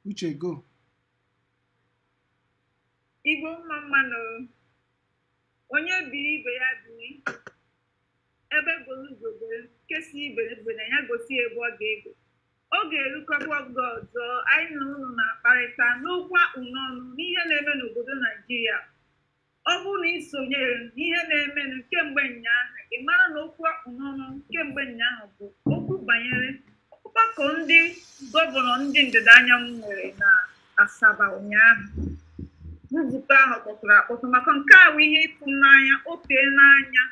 uche go igbo mma mma nụ onye biri ibe ya biri egbe belu ugo be nke sị ibe ebena ya gosi ebe ọ ga-ebe ọ ga-erukọba oge ọzọ anyị na unu na-akparịta n'okwu a kpụ n'ọnụ n'ihe na-eme n'obodo naijiria ọ bụrụ na ị sonyere n'ihe na-emenụ kemgbe ụnyaahụ ị mara na okwu a kpụ n'ọnụ kemgbe ụnyaahụ bụ okwu banyere ọgbakọ ndị gọvanọ ndị ndịda anyanwụ nwere na asaba ụnyaahụ nzukọ ahụ kpọtụrụ akpọtụ maka nke a bụ ihe ịtụnanya o teena anya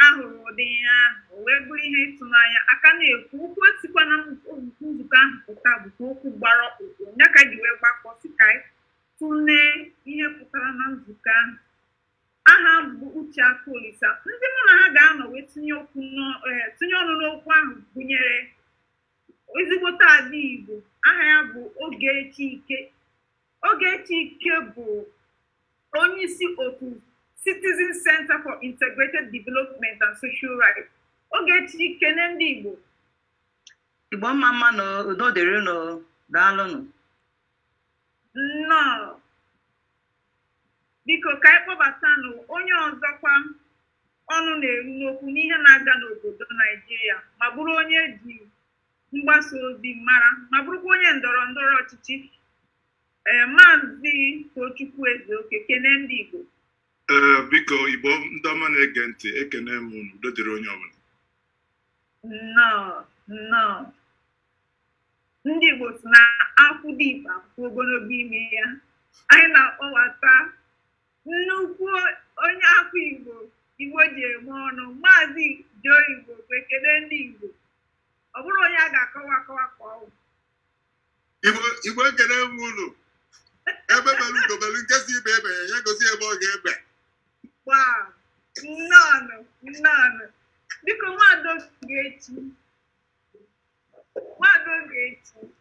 a hụrụ ụdị ihe ahụ o wee bụrụ ihe ịtụnanya a ka na-ekwu okwu sikwa na nzukọ ahụ pụta bụkwa okwu gbara ọkpụrụkpụ ya ka e ji wee gbakọ sị ka anyị Tụlee ihe pụtara na nzukọ ahụ. Aha m bụ Uche Akolisa. Ndị mụ na ha ga-anọ wee tinye okwu n'ọ- eh, tinye ọnụ n'okwu ahụ gụnyere ezigbote ada Igbo aha ya bụ Ogechi Ike. Ogechi Ike bụ onye isi otu Citizens Center for Integrated Development and Social Rights. Ogechi kene ndị Igbo Igbo mma mma nụ udo dịrị unu daalụnụ. nnọọ biko ka anyị kpọbatanụ onye ọzọkwa ọnụ na-eru n'okwu n'ihe na-aga n'obodo naijiria ma bụrụ onye e ji mgbasa ozi mara ma bụrụkwa onye ndọrọ ndọrọ ọchịchị ee maazị tochukwu ezeoke kene ndị igbo Ee, biko igbo ndị ọma na-ege ntị ekene m unu udo dịrị onye ọbụla nnọọ nnọọ ndị Igbo sị na akwụ dị ibe akwụ ogologo ime ya anyị na-akpọbata nnukwu onye afọ Igbo Igbo ji eme ọnụ maazị Joe Igbokwe kele ndị Igbo ọ bụrọ onye a ga-akọwa akọwa ka ọ wụ Igbo ekele m unu egbe belu ugo belu nke sị ibe ebena ya gosi ebe ọ ga-ebe gbaa nnọọ nnọọ biko nwaada Ogechi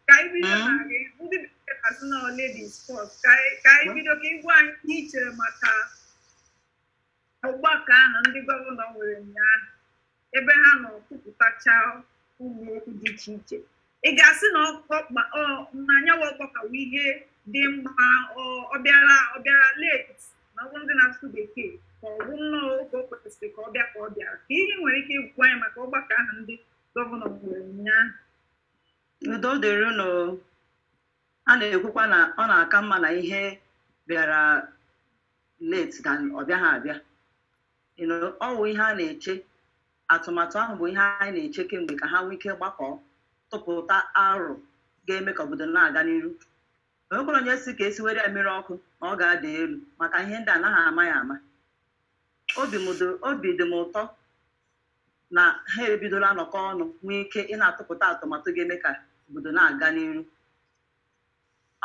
ka anyị bido na hmm? gị ndị bekee na-asị na ladies first ka anyị hmm? bido ka ị gwa anyị ihe i chere maka ọgbakọ ahụ ndị gọvanọ nwere ụnyaahụ ebe ha nọ kwupụtacha ụmụ okwu dị iche iche ị ga-asị na anyanwụ ọgbakọ a bụ ihe dị mma ọ bịara ọ bịara late n'okwu ndị na-asụ bekee ka ọ bụ nnọọ oge o kwesịrị ka ọ bịa ka ọ bịara kee ihe i nwere ike ịgwa anyị maka ọgbakọ ahụ ndị Gọvanọ kwuru ụnyaahụ. Udo dịrị unu. A na-ekwukwa na ọ na-aka mma na ihe bịara late than ọ bịaghị abịa. You know, ọ wụ ihe a na-eche atụmatụ ahụ bụ ihe anyị na-eche kemgbe ka ha nwee ike gbakọọ tụpụta aro ga-eme ka obodo na-aga n'iru o nwekwara onye sị ka e siwere ya mmiri ọkụ na ọ ga-ada elu maka ihe ndị anaghị ama ya ama obi m dị- obi dị m ụtọ na ha ebidola nọkọ ọnụ nwee ike ị na-atụpụta atụmatụ ga-eme ka obodo na-aga n'iru.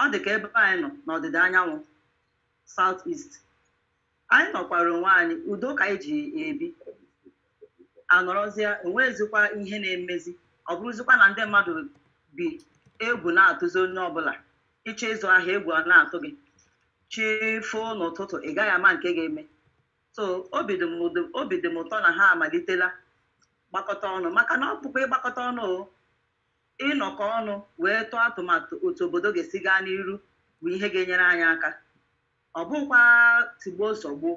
Ọ dị ka ebe anyị nọ n'ọdịda anyanwụ, South East, anyị nọkwara onwe anyị, udo ka anyị ji ebi, anọrọzịa enweghịzikwa ihe na-emezi, ọ bụrụzikwa na ndị mmadụ bi egwu na-atụzi onye ọbụla, ị chọọ ịzụ ahịa egwu ana-atụ gị, chi foo n'ụtụtụ ị gaghị ama nke ga-eme. so obi dị m ụdị- obi dị m ụtọ na ha amalitela gbakọta ọnụ maka na ọ bụkwa ịgbakọta ọnụ o, ịnọkọ ọnụ wee tụọ atụmatụ otu obodo ga-esi gaa n'iru bụ ihe ga-enyere anyị aka ọ bụkwa tigbuo zọgbuo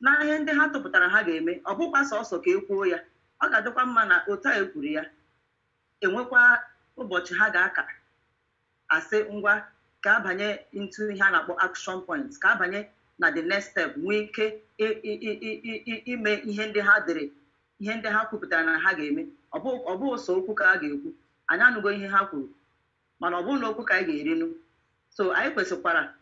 na ihe ndị ha tụpụtara ha ga-eme ọ bụkwa sọsọ ka e kwuo ya ọ ga-adịkwa mma na otu a e kwuru ya enwekwa ụbọchị ha ga-aka asị ngwa ka a banye into ihe a na-akpọ action points ka a banye na the next step nwee ike i- i- i- i- i- i- ime ihe ndị ha dere ihe ndị ha kwupụtara na ha ga-eme ọ bụ ọ bụ sọ okwu ka a ga-ekwu anyị anụgo ihe ha kwuru mana ọ bụrọ na okwu ka anyị ga-erinu so anyị kwesịkwara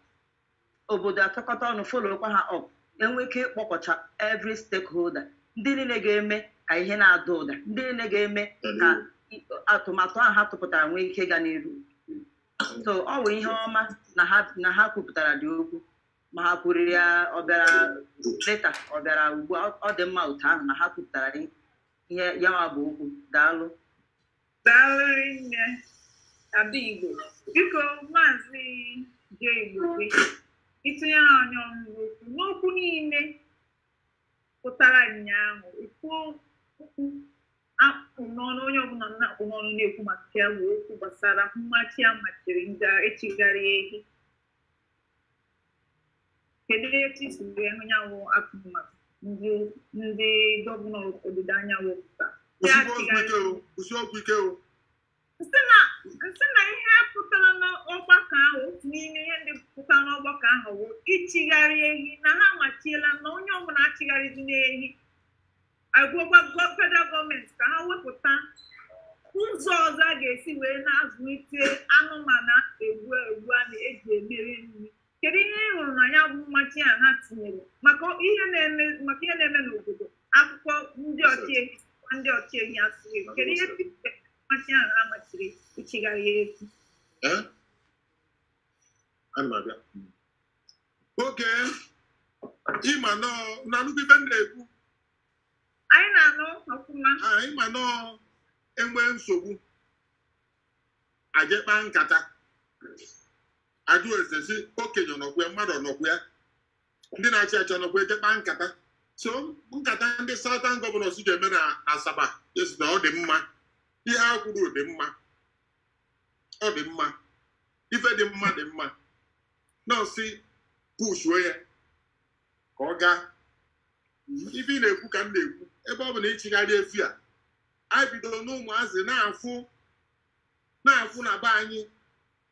obodo atụkọta ọnụ followkwa ha up enwee ike ịkpọkọcha every stakeholder ndị niile ga-eme ka ihe na-ada ụda ndị niile ga-eme ka i- atụmatụ ahụ ha tụpụtara nwee ike ịga n'iru so ọ bụ ihe ọma na ha na ha kwupụtaradị okwu ma ha kwuru ya ọ bịara late ọ bịara ugbu a ọ dị mma otu ahụ na ha kwupụtara ihe ya nwa bụ okwu daalụ Daalụ rinne Ada Igbo biko maazị je Igbo gị itinye anyị ọnụ n'okwu n'okwu niile pụtara ụnyaahụ ikwuo okwu a kpụ n'ọnụ onye ọbụla na-akpụ n'ọnụ na-ekwu maka ya bụ okwu gbasara mmachi a machiri ndị achịgharị ehi Kedu etu i si wee hụ nyanwụ atụmatụ ndị ndị gọvanọ ọdịda anyanwụ pụta? Kwụsị okwu ike o. M sị na ihe pụtara n'ọgbakọ ahụ otu n'ime ihe ndị pụtara n'ọgbakọ ahụ bụ ịchịgharị ehi na ha amachiela na onye ọbụla achịgharịzina ehi agwakwa federal gọọmenti ka ha wepụta ụzọ ọzọ a ga-esi wee na-azụlite anụmanụ egbu egbu a na-eji emere nri kedu ihe ị hụrụ na ya bụ mmachi a ha tinyere maka ihe na-eme maka ihe na-eme n'obodo akụkọ ndị ọchịehi ndị ọchịehi asụghị kedu ihe mmachi ahụ ha machiri ịchịgharị ehi okay ị ma nọ na nnukwu ibe m na-ekwu anyị na-anụ ọfụma ha ị ma na e nwee nsogbu a je kpaa nkata ajụọ ese sị okenye ọ nọkwa ya mmadụ ọ nọkwa ya ndị na-achị achị ọ nọkwa e je kpaa nkata so nkata ndị southern gọvanọs je mee na Asaba asị na ọ dị mma ihe ha kwuru dị mma ọ dị mma ife dị mma dị mma na-asị pushuo ya ka ọ gaa ife ị na-ekwu ka m na-ekwu ebe ọ bụ na ịchịgharị efi a anyị bidoro n'ụmụazị na-afụ na-afụ na be anyị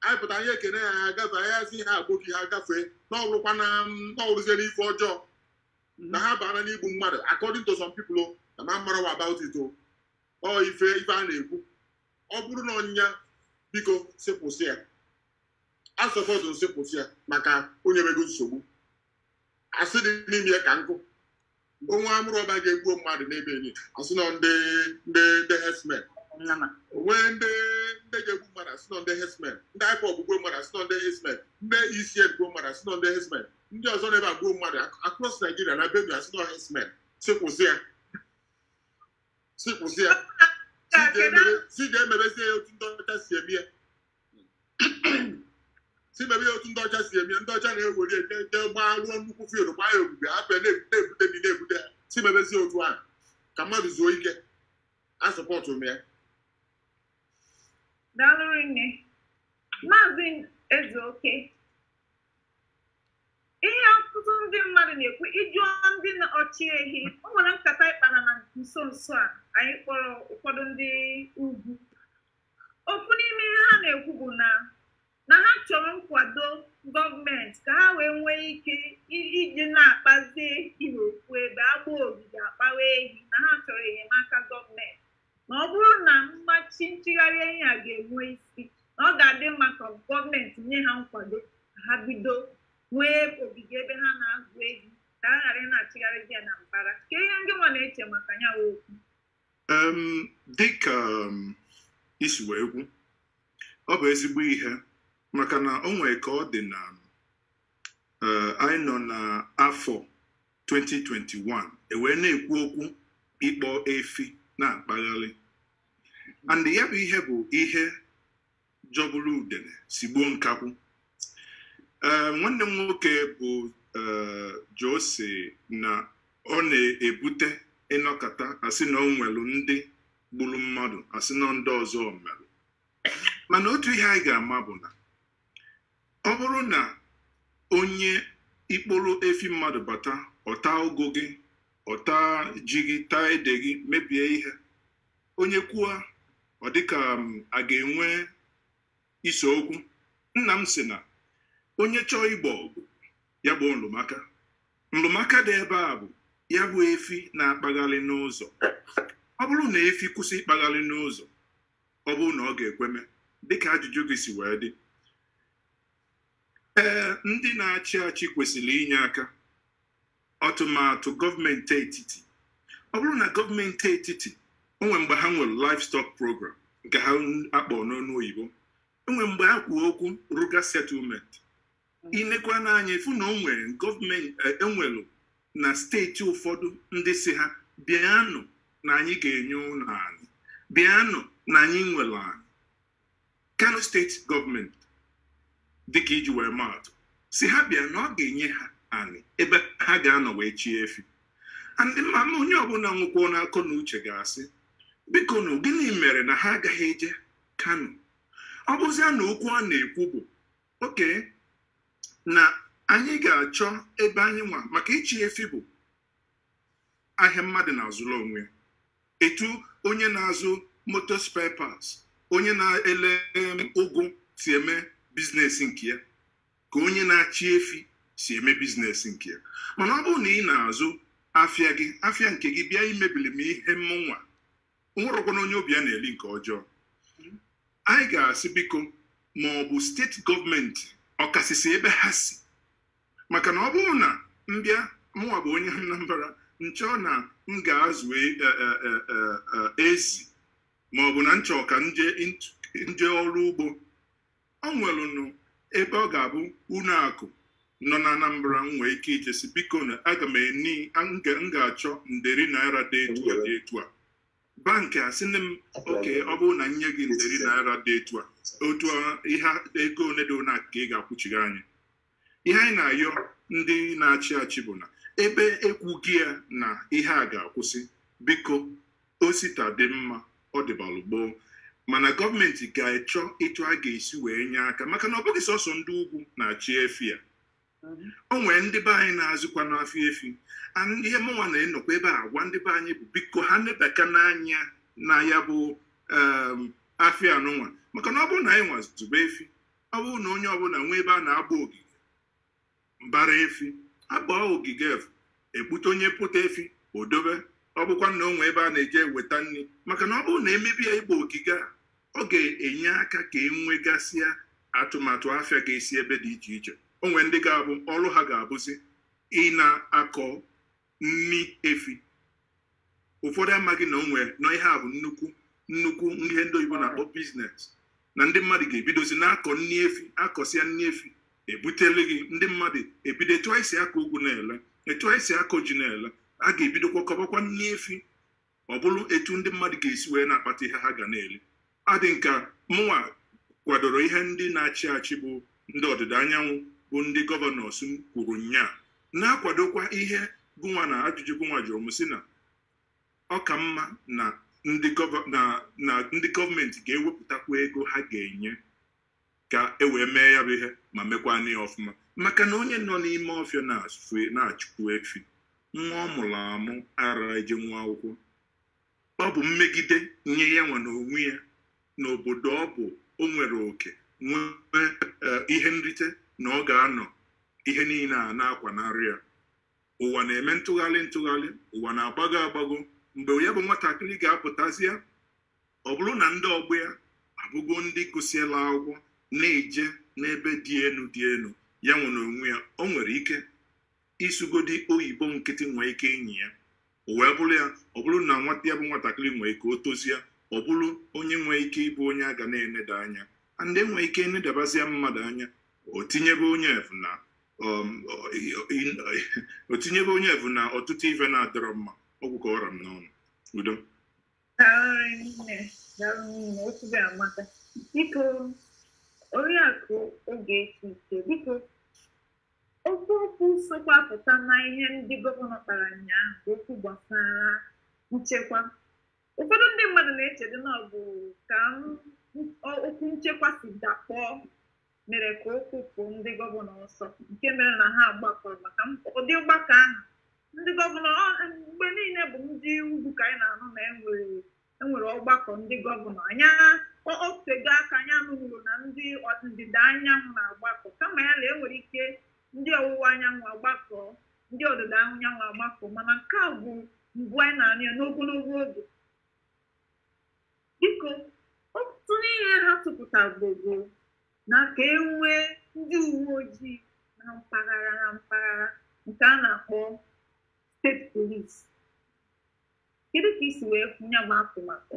anyị pụta anyị ekene ya ha agafe anyị asị ha agboki ha gafee na ọ bụrụkwa na na ọ bụrụzie n'ife ọjọọ na ha bara n'igbu mmadụ according to some people o, na ma mara wa about it o ọ ife ife a na-ekwu ọ bụrụ na ọ nya biko sị kwụsị ya a sọpọtụ m sị kwụsị ya maka o nyebego nsogbu asị dị n'ime ya ka nkụ mgbe nwa armed robber ga-egbuo mmadụ n'Ebonyi asị na ọ ndị ndị ndị herdsmen Nama. o nwee ndị ndị ga-egbu mmadụ asị na ọ ndị herdsmen ndị IPOB egbuo mmadụ asị na ọ ndị herdsmen ndị ESN egbuo mmadụ asị na ọ ndị herdsmen ndị ọzọ n'ebe egbuo mmadụ ac- across Nigeria na Benue asị na ọ herdsmen sị kwụsị ya sị kwụsị ya sị ga-emebe- sị ga-emebezie ya otu ndị ọcha si eme ya sị mebe ya otu ndị ọcha si eme ndị ọcha na-ewere ebe ebe gbaa rụọ nnukwu field gbaa ya ogige hapụ ya na-ebute ebute ndị na-ebute ya sị mebezie otu ahụ ka mmadụ zuo ike a sọpọtụ m ya Daalụ nne. Maazị Ezeoke, ihe ọtụtụ ndị mmadụ na-ekwu ị jụọ ndị na- ọchị ehi o nwere nkata anyị kpara na nso nso a anyị kpọrọ ụfọdụ ndị ugwu Ofu n'ime ihe ha na-ekwu bụ na na ha chọrọ nkwado gọọmenti ka ha wee nwee ike iji na-akpazi ehi n'ofu ebe agba ogige akpawa ehi na ha chọrọ enyemaka gọọmenti na ọ bụrụ na mmachi nchịgharị ehi a ga-enwe isi na ọ ga-adị mma ka gọọmenti nye ha nkwado ka ha bido nwee ogige ebe ha na-azụ ehi ka ha ghara ị na-achịgharịzi ya na mbara kee ihe ngị nwa na-eche maka ya bụ okwu dịka i si wee kwu ọ bụ ezigbo ihe maka na o nwere ka ọ dị na anyị nọ n'afọ 2021 e wee na-ekwu okwu ịkpọ efi na-akpagharị and ya bụ ihe bụ ihe jọgburu udene sigbuo nkakwụ ee nwanne m nwoke bụ ee Jose na ọ na-ebute ị nọkata a sị na o nwere ndị gburu mmadụ a sị na ndị ọzọ mere mana otu ihe anyị ga-ama bụ na ọ bụrụ na onye ịkpọrọ efi mmadụ bata ọ taa ụgụ gị ọ taa ji gị taa ede gị mebie ihe onye kwuo ọ dịka um, a ga-enwe ise okwu nna m sị na onye chọọ igbo ọgụ ya gboo nlụmaka nlụmaka dị ebe a bụ ya bụ efi na-akpagharị n'ụzọ ọ bụrụ na efi kwụsị ịkpagharị n'ụzọ ọ bụrụ na ọ ga-ekweme dịka ajụjụ gị si wee dị ee ndị na-achị achị kwesịrị inye aka ọtụmatụ gọọmenti etiti ọ bụrụ na gọọmenti etiti o nwe mgbe ha nwere livestock program nke ha akpọ n'ọnụ oyibo e nwe mgbe ha kwuo okwu ruga settlement i nekwanụ anya ị fụ na o nwere gọọmenti e nwelu e na steeti ụfọdụ ndị sị ha bịanụ na anyị ga-enye unu anị bịanụ na anyị nwere anị Kano steeti gọọmenti dịka iji wee maatụ sị ha bịa na ọ ga-enye ha anị ebe ha ga-anọ wee chie efi and m ma na onye ọbụla nwekwanụ akọ na uche ga-asị bikonu gịnị mere na ha agaghị eje Kano ọ bụzia na okwu a na-ekwu bụ okay na anyị ga-achọ ebe anyị nwa maka ịchị efi bụ ahịa mmadụ na-azụrụ onwe etu onye na-azụ moto spare parts onye na-ele um, ụgụ si eme biznes nke ya ka onye na-achị efi si eme biznes nke ya mana ọ bụrụ na ị na-azụ afịa gị afịa nke gị bịa imebili m ihe mmụnwa bụrụkwanụ onye obi ya na-eli nke ọjọọ anyị ga-asị biko ma ọ bụ steeti gọọmenti ọkasịsị ebe ha si maka na ọ bụrụ na m bịa mụwa bụ onye Anambra m chọọ na m ga-azụ e, e, e, ezi ma ọ bụ na m chọọ ka m je ọrụ ugbo ọ nwelụnụ ebe ọ ga-abụ ụlọ akụ nọ na Anambra m nwee ike ije sị biko na aga m eni m ga-achọ nderi naira dị etu a dị etu a bankị asị nne m okay ọ bụrụ na m nye gị nderi naira dị etu a otu ihe ego ole dị ole ka ị ga-akwụchigha anyị ihe anyị na-ayọ ndị na-achị achị bụ na ebe ekwugo ya na ihe a ga-akwụsị biko osita dị mma ọ dịbalụ gboo mana gọọmenti ga-echọ etu a ga-esi wee nye aka maka na ọ bụghị sọsọ ndị ugwu na-achị efi ya o nwere ndị be anyị na-azụkwanụ afịa efi and ihe mụnwa na-enọkwa ebe a agwa ndị be anyị bụ biko ha nebakwanụ anya na ya bụ em, afịa anụnwa maka na ọ bụrụ na anyịnwa zụbe efi ọ bụrụ na onye ọbụla nwee ebe a na-agba ogige gbaara efi agba ogige afụ e kpụte onye kpụta efi o dobe ọ bụkwa na o nwee ebe a na-eje eweta nni maka na ọ bụrụ na e mebe ya ịgba ogige a ọ ga-enye aka ka e nwegasịa atụmatụ afịa ga-esi ebe dị iche iche o nwee ndị ga-abụ ọrụ ha ga-abụzi ị na-akọ nni efi ụfọdụ amaghị na o nwee nọ ihe a bụ nnukwu nnukwu ihe ndị oyibo na-akpọ biznes na ndị mmadụ ga-ebidozi na-akọ nni efi akọsịa nni efi ebute lee gị ndị mmadụ ebido etu anyị si akọ ugu na-ele etu anyị si akọ ji na-ele a ga-ebidokwa kọbakwa nni efi ọ bụrụ etu ndị mmadụ ga-esi wee na-akpata ihe ha ga na-eri adị nka mụnwa kwadoro ihe ndị na-achị achị bụ ndị ọdịda anyanwụ bụ ndị gọvanọs kwuru ụnyaa na-akwadokwa ihe gụnwa na ajụjụ gụnwa jụrụ m sị na ọ ka mma na ndị gọọmenti ga-ewepụtakwa ego ha ga-enye ka e wee mee ya bụ ihe ma mekwanụ ya ọfụma maka na onye nọ n'ime ọfịa na-achụkwu efi nwa ọ mụrụ amụ ara ejenwu akwụkwọ ọ bụ mmegide nye ya nwa na onwe ya n'obodo ọ bụ o nwere oke nwee e, ihe nrite na ọ ga-anọ ihe niile a na-akwanarị ya ụwa na-eme ntụgharị ntụgharị ụwa na-agbago agbago mgbe ya bụ nwatakịrị ga-apụtazịa ọ bụrụ na ndị ọgbọ ya abụgo ndị gụsịela akwụkwọ na-eje n'ebe dị elu dị elu ya nwa na onwe ya o nwere ike ịsụgodị oyibo nkịtị nwee ike ịnyị ya o wee bụrụ ya ọ bụrụ na nwata ya bụ nwatakịrị nwee ike o tozie ọ bụrụ onye nwee ike ịbụ onye a ga na-eneda anya and e nwee ike inedabazia mmadụ anya o tinyebe onye afụ na um, o- i- o tinyebe onye afụ na ọtụtụ ife na-adọrọ mma ọ gwụ ka ọ ra m n'ọnụ udo biko oriakụ ogechi ike biko okwu okwu sokwa pụta na ihe ndị gọvanọ kpara ụnyaahụ bụ okwu gbasara nchekwa ụfọdụ ndị mmadụ na-echedị na ọ bụ ka m- ọ- okwu nchekwa si dakpọọ mere ka okwu pụọ ndị gọvanọ ọsọ nke mere na ha gbakọrọ maka ụdị mgbakọ ahụ ndị gọvanọ mgbe niile bụ ndị ugwu ka anyị na-anụ na enwere enwere ọgbakọ ndị gọvanọ anyị a otego aka anyị nụbụrụ na ndịda anyanwụ na-agbakọ kama ya na enwere ike ndị ọwụwa anyanwụ agbakọ ndị ọdịda anyanwụ agbakọ mana nke a bụ mbụ anyị na-anụ ya n'ogologo oge Biko, otu n'ihe ha tụpụtago bụ na ka e nwee ndị uwe ojii na mpaghara na mpaghara nke a na-akpọ steeti polisi. Kedu ka isi wee fụ ya bụ atụmatụ?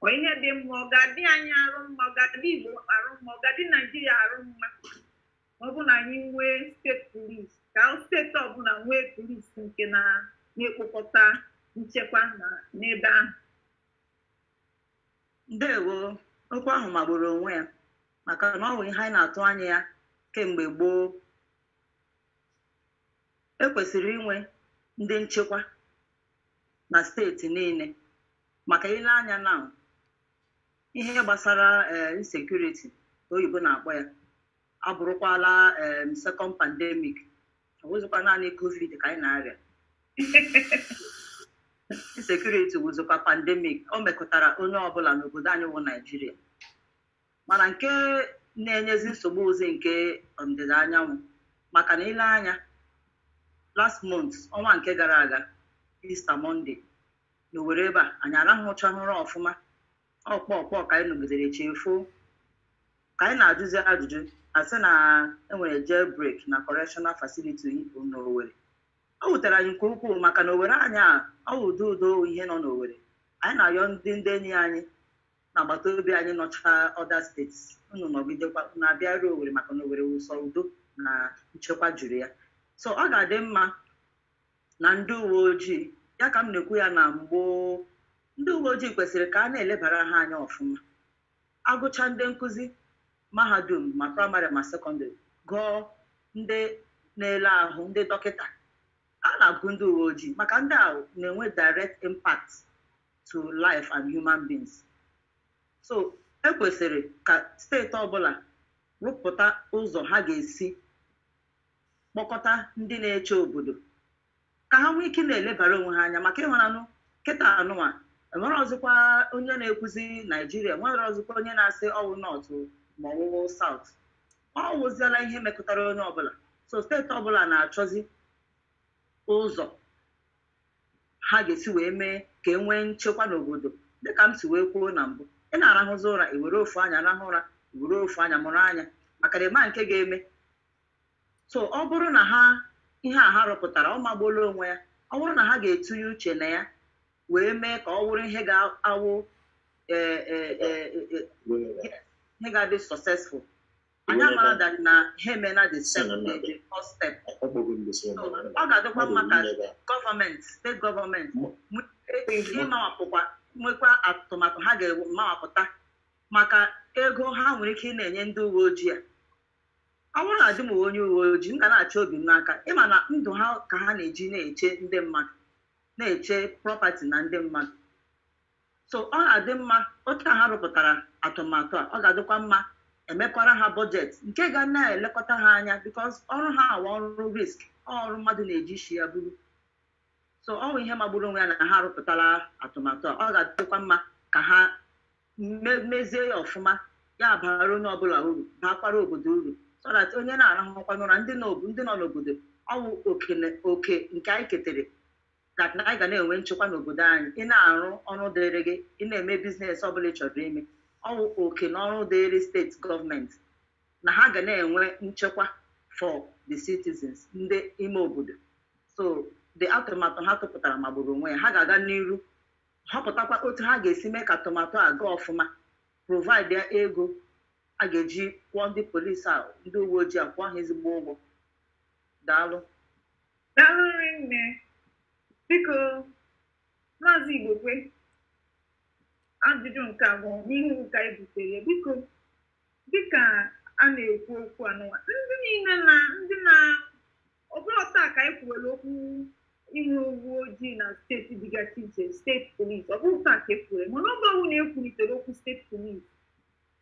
Ọ ihe dị mma, ọ ga-adị anyị arụ mma, ọ ga-adị Igbo arụ mma, ọ ga-adị Naijiria arụ mma. ọ bụ na anyị nwee steeti polis ka steeti ọbụla nwee polis nke na na-ekpokọta nchekwa na n'ebe ahụ ndewo okwu ahụ magburu onwe ya maka na ọ wụ ihe anyị na-atụ anya ya kemgbe gboo ekwesịrị inwe ndị nchekwa na steeti niile maka i lee anya na ihe gbasara eh, insecurity oyibo na-akpọ ya abụrụkwala em second pandemic ọ wụzịkwa naanị covid ka anyị na-arịa insecurity wụzịkwa pandemic o mekọtara onye ọbụla n'obodo anyị wụ naijiria mana nke na-enyezi nsogbu wụzi nke ndịda anyanwụ maka na i lee anya last month ọnwa nke gara aga Easter Monday n'Owerri ebe a anyị arahụchahụ ụra ọfụma ọ kpọ kpọ ka anyị nụgidere chi efoo ka anyị na-ajụzi ajụjụ asị na enwere jailbreak na correctional facility n'Owerri ọ wutere anyị nke ukwuu maka na Owerri anyị a ọ wụ udo udo ihe nọ n'Owerri anyị na-ayọ ndị ndị enyi anyị na agbata obi anyị nọcha other states unu nọgidekwa unu abịa ruo Owerri maka na Owerri wụ sọ udo na nchekwa juru ya so ọ ga-adị mma na ndị uwe ojii ya ka m na-ekwu ya na mgbe ndị uwe ojii kwesịrị ka a na-elebara ha anya ọfụma A gụchaa ndị nkụzi mahadum ma praịmarị ma sekọndịrị, gụọ ndị na-ele ahụ, ndị dọkịta, a na-agụ ndị uweojii maka ndị ahụ na-enwe direct impact to life and human beings. So, e kwesịrị ka steeti ọbụla rụpụta ụzọ ha ga-esi kpọkọta ndị na-eche obodo ka ha nwee ike na-elebara onwe ha anya maka ịhụranụ kịta anụnwa enwerọzịkwa onye na-ekwuzi naijiria enwerọzịkwa onye na-asị ọwụ nọtụ ma ọwụ saut ọ wụziela ihe mekụtara onye ọbụla so steeti ọbụla na-achọzi ụzọ ha ga-esi wee mee ka e nwee nchekwa n'obodo dịka m si wee kwuo na mbụ ị na-arahụzi ụra i were ofu anya rahụ ụra i were ofu anya mụrụ anya maka na ịma nke ga-eme So ọ bụrụ na ha ihe a ha rụpụtara ọ magbuola onwe ya, ọ bụrụ na ha ga-etunye uche na ya wee mee ka ọ wụrụ ihe ga-awụ eh, eh, eh, eh, eh, ihe ga-adị successful anyị amara that na ha emela the step the the first step So, ọ ga-adịkwa mma ka gọọmenti steeti gọọmenti nwe- e- ịmawapụkwa nwekwa atụmatụ ha ga-amawapụta maka ego ha nwere ike ị na-enye ndị uwe ojii a Awụ na-adị m onye uwe ojii, m ga na-achị obi m n'aka. Ị ma na ndụ ha ka ha na-eji na-eche ndị mmadụ, na-eche property na ndị mmadụ. So ọ ga-adị mma otu a ha rụpụtara atụmatụ a, ọ ga-adịkwa mma emekwara ha budget nke ga na-elekọta ha anya because ọrụ ha a wụ ọrụ risk, ọ ọrụ mmadụ na-eji isi ya buru. so ọ wụ ihe magburu onwe ya na ha arụpụtala atụmatụ a ọ ga-adịkwa mma ka ha mezie ya ọfụma ya bara onye ọbụla uru bakwara obodo uru so that onye na-arahụkwanụ ụra ndị nọ n'obodo ọwụ oke nke anyị ketere that na anyị ga na-enwe nchekwa n'obodo anyị ị na-arụ ọrụ dịrị gị ị na-eme biznes ọbụla ị chọrọ ime ọwụ oke na ọrụ dịrị steeti gọọmenti na ha ga na-enwe nchekwa for the citizens ndị ime obodo so the atụmatụ ha tụpụtara magburu onwe ya ha ga-aga n'iru họpụtakwa otu ha ga-esi mee ka atụmatụ a gaa ọfụma provide ya ego a ga-eji kwụọ ndị polisi a ndị uwe ojii a kwụọ ha ezigbo ụgwọ daalụ Daalụ nne biko maazị Igbokwe ajụjụ nke abụọ n'ihu ka anyị butere biko Dị ka a na-ekwu okwu anụnwa, ndị niile na ndị na ọ bụrọ taa ka anyị kwuwere okwu inwe uwe ojii na steeti dịgasị iche steeti polisi ọ bụrọ taa ka e kwuwere mana oge ọbụla e kwulitere okwu steeti polisi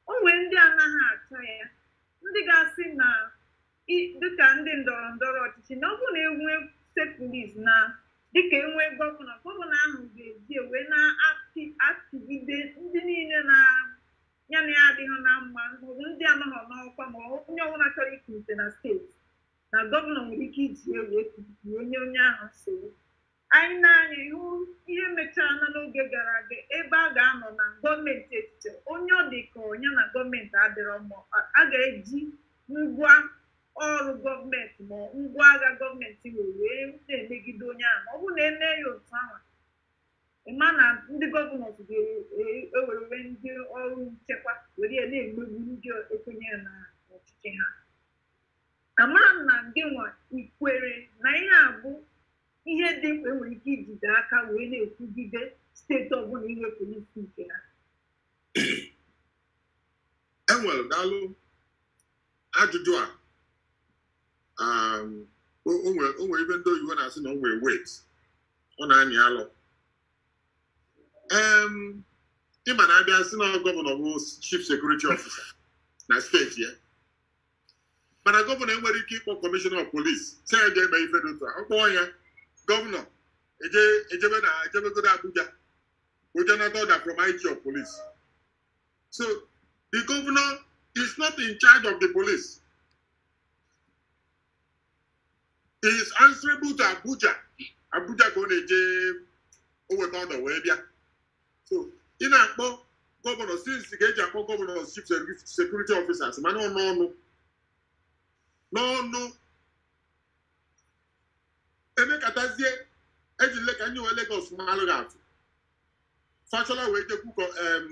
o nwere ndị anaghị achọ ya ndị ga-asị na i- dịka ndị ndọrọ ndọrọ ọchịchị na ọ bụrụ na enwee steeti polisi na dịka enwee gọvanọ gọvanọ ahụ ga-eji wee na-achịgide ndị niile na ya na ya adịghị na mma maọbụ ndị anọghọ n'ọkwa ma onye ọbụla chọrọ ikulite na steeti na gọvanọ nwere ike iji ya wee kulie nye onye ahụ nsogbu anyị na-anya ihu ihe mechara na n'oge gara aga ebe a ga-anọ na gọọmenti etiti onye ọ dị ka nya na gọọmenti adịrọ mma a ga-eji ngwa ọrụ gọọmenti ma ngwa agha gọọmenti wee wee na-emegide onye ahụ ọ bụrụ na eme ya otu ahụ Ị ma na ndị gọvanọs ga-ewerele ndị ọrụ nchekwa were ya na-emegbu ndị ekwenyerọ na ọchịchị ha amarọ m ma gịnwa i kwere na ihe a bụ ihe dị mkpa enwere ike ijide aka wee na-ekwugide steeti ọbụla inwe polisi nke ha enwere daalụ ajụjụ a um, o o nwere o nwere ife ndị oyibo na-asị na o nwere weight ọ na-anyị alọ Em, ị ma na abịa sị na gọvanọ bụ chief security officer na steeti ya mana gọvanọ enwerọ ike ịkpọ kọmishọna of polis sị ya gaa mee ife dị otu a ọ kpọọ ya gọvanọ eje ejebe na ejebegodo Abuja o jee nata order from IG of polis So the governor is not in charge of the police. He is answerable to Abuja. Abuja ka ọ na-eje o weta order wee bịa. So ị na-akpọ gọvanọ since ka e ji akpọ gọvanọ chief security officers mana ọ n'ọnụ n'ọnụ emekatazie eji lee ka anyị were Lagos maalụ gị atụ Fashola wee jekwu kọ em,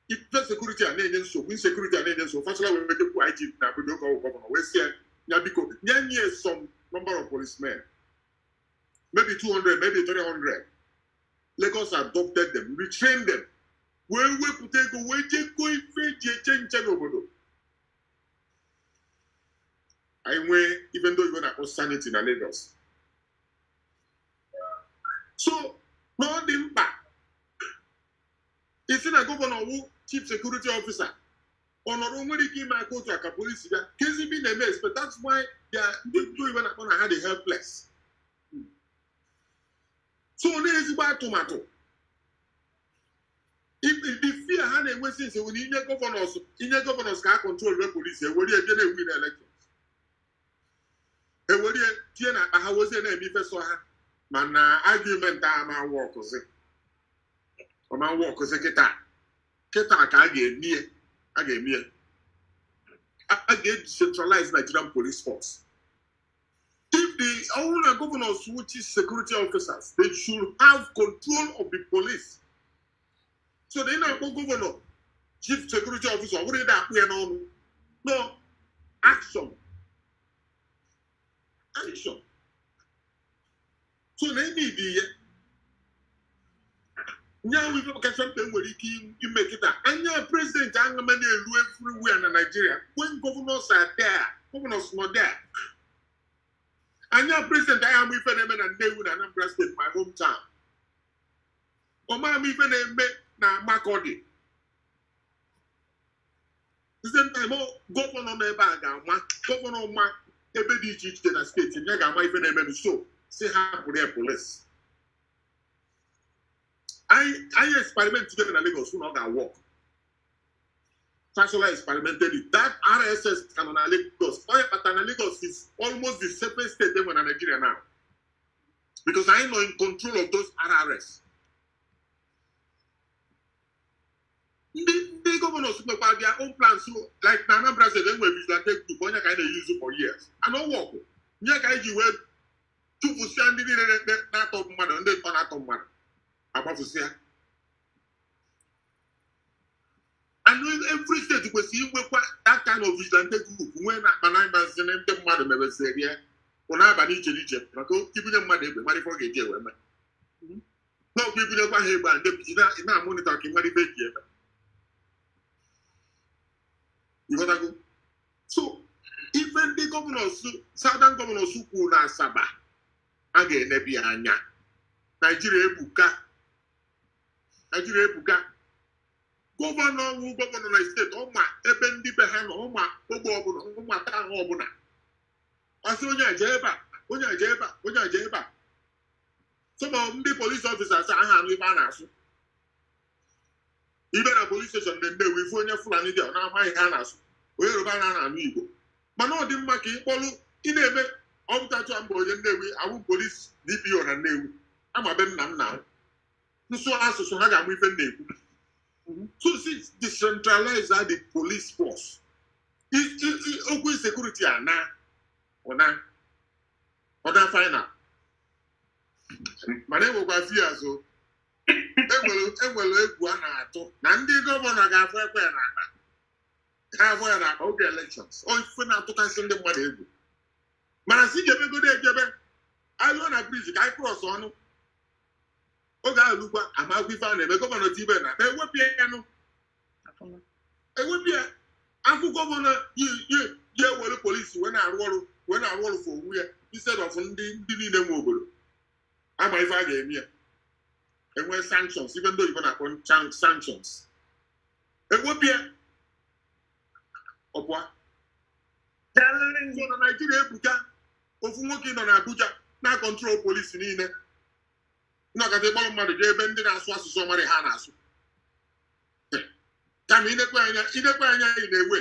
ife sekuriti a na-enye nsogbu insekuriti a na-enye nsogbu Fashola wee jekwu IG na Abuja ka ọ wụ gọvanọ wee sị ya biko nye nye some number of policemen maybe 200 maybe 300 Lagos adopted them retrained them wee wepụta ego wee jekọ ife eji eche nche n'obodo anyị nwee ife ndị oyibo na-akpọ sanity na Lagos so na ọ dị mkpa ịsị na gọvanọ wụ chief security officer ọ nọrọ o nwerọ ike ime aka otu a ka polisi bịa kezi ife ị na-eme expect that's why ya ndị ndị oyibo na-akpọ na ha dị helpless so na ezigbo atụmatụ the fear ha na-enwe since were inye gọvanọs inye gọvanọs ka ha kọntrolwa polisi ewerebe ya na-ewin elekshọn ewere ya tie n'akpa ha wezie na-eme ife sọ ha mana argument a ama-awọkụzi ọ ma-awọkụzi kịta kịta ka a ga-eme ya a ga-eme ya a ga-decentralize Nigerian police force if ọ wụrụ na governors wụ chief security officers they should have control of the police so na ị na-akpọ gọvanọ chief security officer ọ bụrụ ị na-akpụ ya n'ọnụ no action action so na ime ụdị ihe nya wụ ife kacha mkpa enwere ike ime kịta anya prezidenti aṅama na-elu everywhere na naijiria when governors are there governors nọ there anya prezidenti anyị ama ife na-eme na nnewi na anambra steeti my hometown ọ ma ama ife na-eme na Makọdị same time gọvanọ nọ ebe a ga-ama gọvanọ ma ebe dị iche iche na steeti ya ga-ama ife na-eme so sị hapụrụ ya polisi anyị experimentigo ya na Lagos na ọ ga-awọk Fashola experimented it. That RRS ka nọ Lagos. Ọ ya kpata na Lagos is almost the safest state e nwere na Nigeria now. because anyị nọ in control of those RRS ndị ndị gọvanọs nwekwa their own plans like na Anambra State enwere vigilante group ọ nya ka anyị na-eyuzu for years and ọ wọkụ nya ka anyị ji wee chụpụsịa ndị niile na-ekpe na-atọ mmadụ ndị ntọ na-atọ mmadụ agbafusịa and every state kwesịrị inwekwa that kind of vigilante group nwee na akpa na ị mazi na ndị mmadụ mebisiri ya bụ n'abalị iche n'iche maka ibunye mmadụ egbe mara ife ọ ga-eji egbe mee n'ọkwa ibunyekwa ha egbe a ndị biji na-amọnịtọ ka ị mara ife eji eme ịghọtago so ife ndị gọvanọs southern gọvanọs kwuru na asaba a ga-eneba ya anya naijiria ebuka naijiria ebuka gọvanọ ọnwụ gọvanọ na steeti ọma ebe ndị be ha nọ ọma ogbe ọbụla ọma taa ahụ ọbụla ọsị onye aja ebe a onye aja ebe a onye aja ebe a sọma ndị polisi ọfisas aha anụ ibe a na-asụ ibe na polis steshọn na nnewi ife onye fulani dị ọ na-amaghị ha na-asụ onye yoruba na anụ igbo mana ọ dị mma ka ịkpọlụ ị na-eme ọpụtachụ mba onye nnewi awụ polis dpo na nnewi ama be nna m na asụ asụsụ ha ga-ama ife a na-ekwu mhm. so sị decentralize the police force okwu sekuriti anaa ụna ọ naa final mana enwekwa fears enwere e egwu a na-atụ na ndị gọvanọ ga-afụ ekwe na akpa ha afọ ya na oge elekshọns ọ ife na-atụkasị ndị mmadụ egwu mana sị ka e megodo e jebe eluo na briji ka anyị krọsọ nụ oge ahụ lukwa amakwa ife a na-eme gọvanọ tibe na akpa ewepụ ya ya nụ ewepụ ya a fụ gọvanọ ya ewere polisi wee na-arụ ọrụ wee na-arụ ọrụ for onwe ya instead of ndị ndị niile nwe obodo a ma ife a ga-eme ya enwe sanctions ife ndị oyibo na-akpọ sanctions ewepụ ya ọkwa kelere nzọ na naijiria ebuka ofu nwoke nọ n'abuja na-control polisi niile nakọta ịkpọrọ mmadụ jee ebe ndị na-asụ asụsụ ọ marọ ha na-asụ kama i nekwaa anya i nekwaa anya ị na-ewe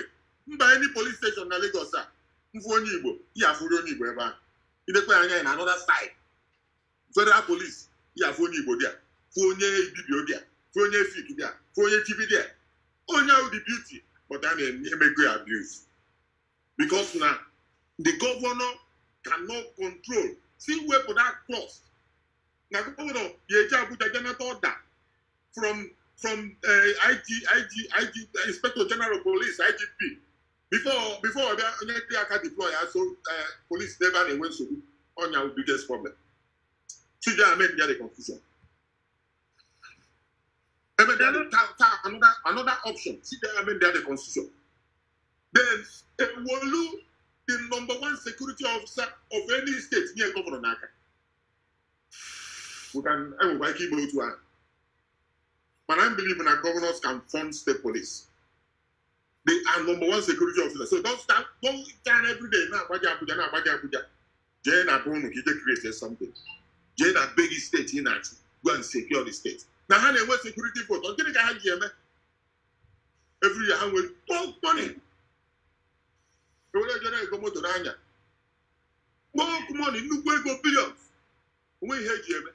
mba ndị polis steshọn na Lagos a mfụ onye igbo ya afụrụ onye igbo ebe ahụ i nekwaa anya ị na another side federal police ya fụ onye igbo there fụ onye ibibio there fụ onye efik there fụ onye tiv there ọ nya wụ the beauty but a na-emego ya abuse because na the governor cannot control sị wepụ that clause na gọvanọ ya-eje abuja je nata order from from eh, IG, IG, IG, inspector general of police igp before before ọ bịa onye dị aka deploy aso eh, polisi n'ebe a na-enwe nsogbu ọ nya biggest problem should amendịa the constitution ebe dị adị taa taa another another option should amendịa the constitution then ewolu the number one security officer of any state nye gọvanọ n'aka we can enwekwa ike ime otu ahụ mana m believe na governors can fund state police they are number one security officer so don't start don't stand every day na-agbaje abuja na-agbaje abuja jee na be unu ka i je create something jee na be gị steeti ị na-achị go and secure the state na ha na-enwe security vote ọ gịnị ka ha ji eme every year ha nwere bulk money e were jere ego moto n'anya bulk money nnukwu ego billions o nwe ihe e ji eme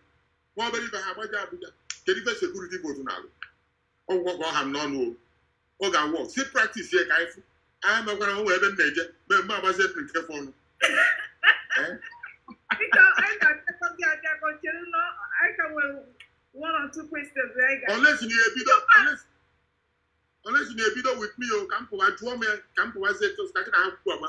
nwa obere ife ha agbaje abuja kedu ife security vote na-alụ ọ gwụgo ka ọ ha m n'ọnụ o ọ ga-awụ sị practice ya ka anyị fụ anyị mekwara o nwe ebe m na-eje mee mma agbazie m nke fọrọnụ Biko, anyị ga-abịakọ gị abịakọ chere na anyị ka nwere one or two questions anyị ga olesi na ebido olesi- olesi na ebido with me o ka m pụwa jụọ m ya ka m pụwazie tos ka gị na ha kwuo agba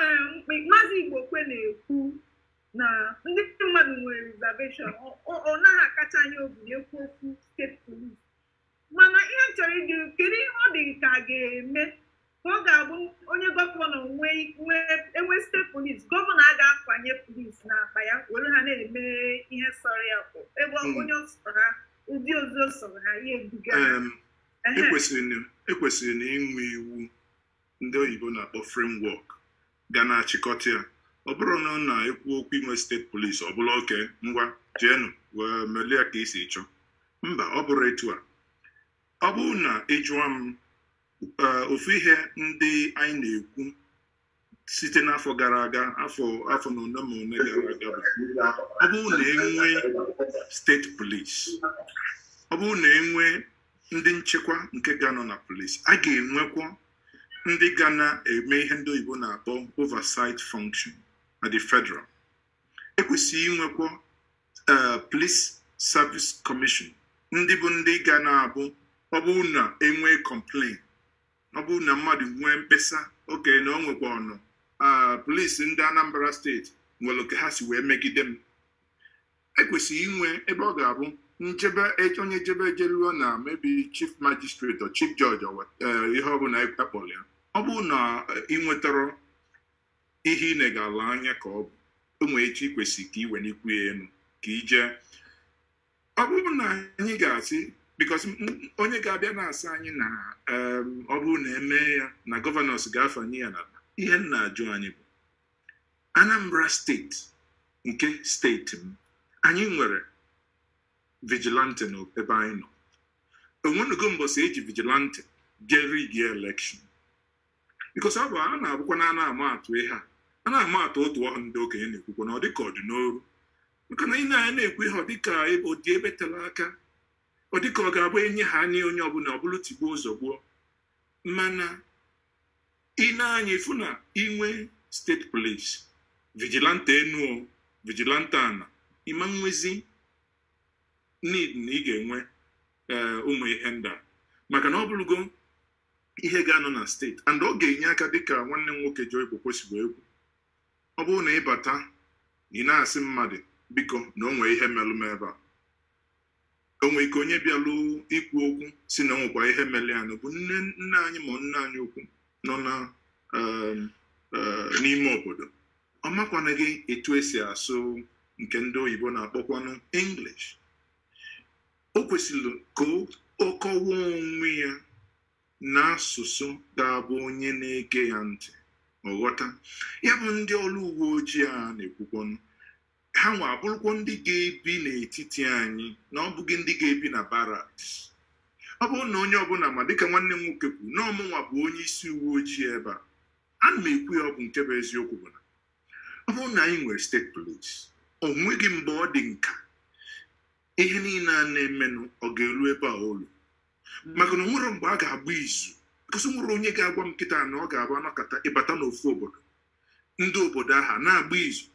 Eh, maazị Igbokwe na-ekwu na ndị mmadụ nwere reservation ọ naghị akacha anyị obi na-ekwu okwu steeti polis mana ihe chọrọ ịdị kedu ihe ọ dị ka ga-eme ka ọ ga-abụ onye gọvanọ e nwee steeti polis gọvanọ a ga-akwanye polis n'akpa ya were ha na-eme ihe sọrọ ya ebe hmm. onye sọrọ ha ụdị ozi sọrọ ha ya ebuga e kwesịrị e na inwe iwu ndị oyibo na-akpọ framework ga na-achịkọta ya ọ bụrụ na ọ na-ekwu okwu inwe steeti polisi ọ bụrọ okay ngwa jeenụ wee melie ya ka i si chọọ mba ọ bụrọ etu a ọ bụrụ na ị jụọ m eh, ofu ihe ndị anyị na-ekwu site n'afọ gara aga afọ afọ na ole ma ole gara aga bụ ọ bụrụ na e nwee steeti polisi ọ bụrụ na e nwee ndị nchekwa nke ga-anọ na polisi a ga-enwekwa ndị ga na-eme ihe ndị oyibo na-akpọ oversight function at the federal e kwesịrị inwekwa eh, police service commission ndị bụ ndị ga na-abụ ọ bụrụ na e nwee complain ọ bụrụ na mmadụ nwee mkpesa okay na o nwekwanụ ah, polisi ndị anambra steeti nwere ka ha si wee megide m e kwesịrị inwe ebe ọ ga-abụ njebe e- onye jebe ejeruo na maybe chief magistrate or chief judge or what- eh, ihe ọ bụla a kpọrọ ya ọ bụrụ na eh, ị nwetarọ ihe ị na-elegara anya ka ị nweta i kwesịrị ka i wenikwuo ya elu ka i jee ọ bụrụ na anyị ga-asị because onye ga-abịa na-asị anyị na em, ọ bụrụ na e mee ya na governors ga-afanye ya na ihe m na-ajụ anyị bụ Anambra steeti nke steeti m anyị nwere vigilante n'ebe anyị nọ o nwenugo mbọsị e ji vigilante jee rig election because ọ bụ a na-abụkwa na a na-ama atụ ihe a a na-ama atụ otu ọhụ ndị okenye na-ekwukwa na ọ dịka ọ dị n'oru maka na i nee anya a na-ekwu ihe ọ dịka ọ dị ebe tela aka ọ dịka ọ ga-abụ e nye ha anya onye ọbụla ọ bụrụ tigbuo zọgbuo mana i nee anya i fụ na i nwee steeti polisi vigilante enu vigilante anaa ị ma nwezi need na ị ga-enwe eh, ụmụ ihe ndị a maka na ọ bụrụgo ihe ga-anọ na steeti and ọ ga-enye aka dịka nwanne m nwoke Joe Igbokwe si wee kwuo ọ bụrụ na ị bata ị na-asị mmadụ biko na o nwee ihe melụ m ebe a o nwere ike onye bịalụ ikwu okwu sị na o nwekwa ihe mere ya bụ nne anyị ma nna anyị ukwu nọ na um, uh, n'ime obodo ọ makwanaghị etu e si asụ nke ndị oyibo na-akpọkwanụ English o kwesịrị ka ọ kọwa onwe ya n'asụsụ ga-abụ onye na-ege ya ntị ọ ghọta ya bụ ndị ọrụ uwe ojii a na-ekwukwanụ ha nwa abụrụkwa ndị ga-ebi n'etiti anyị na ọ bụghị ndị ga-ebi na baraks ọ bụrụ na onye ọbụla ma dịka nwanne m nwoke kwuru na ọ mụnwa bụ onye isi uwe ojii ebe a ana m ekwu ya ọ bụ nke bụ eziokwu bụ na ọ bụrụ na anyị nwere steeti polis o nweghị mgbe ụdị nka ihe niile a na-emenụ ọ ga-elu ebe a o lu maka na o nwere mgbe a ga-agba izu ka a sị nwere onye ga-agwa m kịta na ọ ga-abụ a nọkata ị bata n'ofu obodo ndị obodo ahụ na-agba izu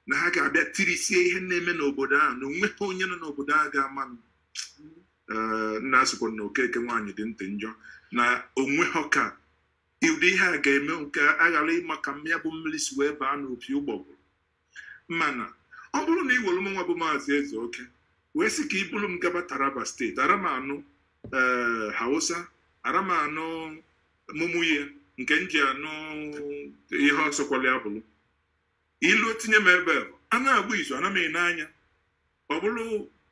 na ha ga-abịa tirisie ihe na-eme n'obodo ahụ na onweghị onye nọ n'obodo ahụ ga-amanụ na a sịkwo na okeke nwaanyị dị ntị njọ na onweghị ka ụdị ihe a ga-eme nke a ghara ịma ka nya bụ mmiri si wee baa n'opi ụgbọgụrụ mana ọ bụrụ na ị were mụnwa bụ maazị ezeoke wee sị ka i buru m gaba taraba steeti arọ m anụ ee eh, hausa arọ m anụ mumuye nke m ji anụ ihe ọ sụkwala ya bụrụ ilu tinye m ebe ahụ a na-agba izu ana m ene anya ọ bụrụ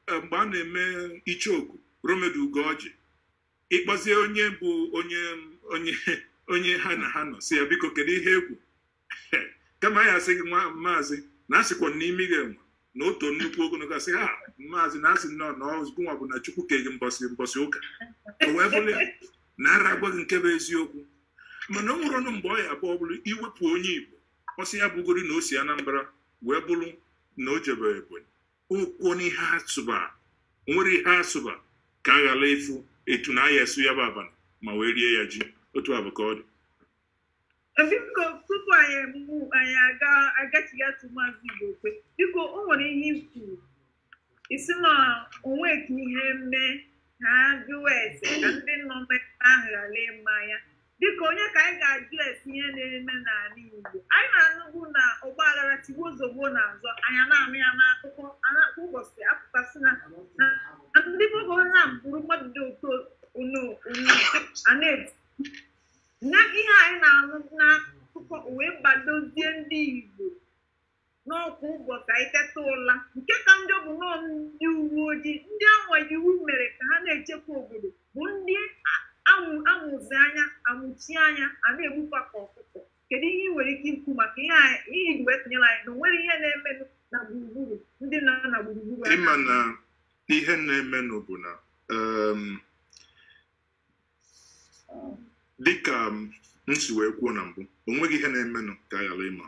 e, mgbe a na-eme icheoku lomaji ugọji ị kpọzie onye bụ onye onye onye ha na ha nọ sị ya biko kedu ihe e kwu kama a ya-asị gị nwa maazị na a sịkwa na imi gị enwe na otu nnukwu ogologo a sị ha maazị na a sịnọ na ọ gụnwa bụ na chukwu ke gị mbọsị mbọsị ụka o wee bụrụ ya na arọ agwa gị nke bụ eziokwu mana o nwerọnụ mgbe ọ ya-abụ ọ bụrụ i wepụ onye igbo ọ sị ya bụgori na o si anambra wee bụrụ na o jebe ebonyi okwu n'ihe a sụba nwere ihe a sụba ka a ghara ịfụ etu na a ya-esu ya bụ abana ma wee rie ya ji otu a bụ ka ọ dị biko tupu anyị mụ anyị aga agachighatụ maazị igbokwe biko o nwere ihe i kwu ị sị na o nwe ka ihe mee a jụwa ese ka ndị nọ mmekọ ahụ ghara ịma ya dịka onye ka anyị ga-ajụ ese ihe na-eme n'ala Igbo anyị na-anụbu na ọgbaghara tigbuo zọgbuo na-azọ anyị na-anụ ya n'akụkọ na kwa ụbọchị a pụta sị na ndị Boko Haram gburu mmadụ dị otu onu onu a na-eti na ihe anyị na-anụ n'akụkọ o wee badozie ndị Igbo na ọ kwa ụbọchị anyị teta ụla nke ka njọ bụ na ọ ndị uwe ojii ndị anwa iwu mere ka ha na-echekwa obodo bụ ndị amụzi anya amụchi anya a na-egbukwa ka ọkụkọ kedu ihe ị nwere ike ikwu maka ihe i ji wee tinyere anyị na onwere ihe na-eme na gburugburu ndị nọ na gburugburu ị ma na ihe na-emenụ bụ na um, dịka m si wee kwuo na mbụ o nweghị ihe na-emenụ ka a ghara ịma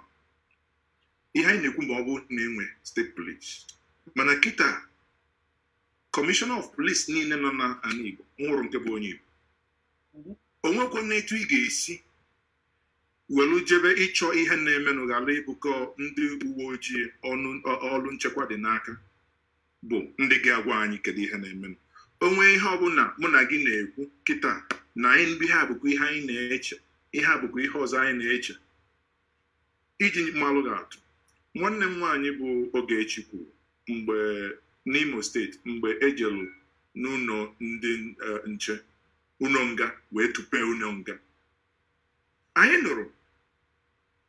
ihe anyị na-ekwu ma ọ bụ na e nwee steeti polis mana kịta kọmishọna of polis niile nọ na ala Igbo o nwerọ nke bụ onye Igbo o nwekwanụ etu ị ga-esi welu jebe ịchọ ihe na-emenụ ghara ịbụkọ ndị uwe ojii ọrụ nchekwa dị n'aka bụ ndị ga-agwa anyị kedu ihe na-emenụ o nwee ihe ọbụla mụ na gị na-ekwu kịta na anyị ihe a bụkwa ihe anyị na-eche ihe a bụkwa ihe ọzọ anyị na-eche iji malụ gị atụ nwanne m nwaanyị bụ Ogechi kwuru mgbe n'Imo steeti mgbe e jelu n'ụlọ ndị e, nche ụlọ nga wee tụpee ụlọ nga anyị nụrụ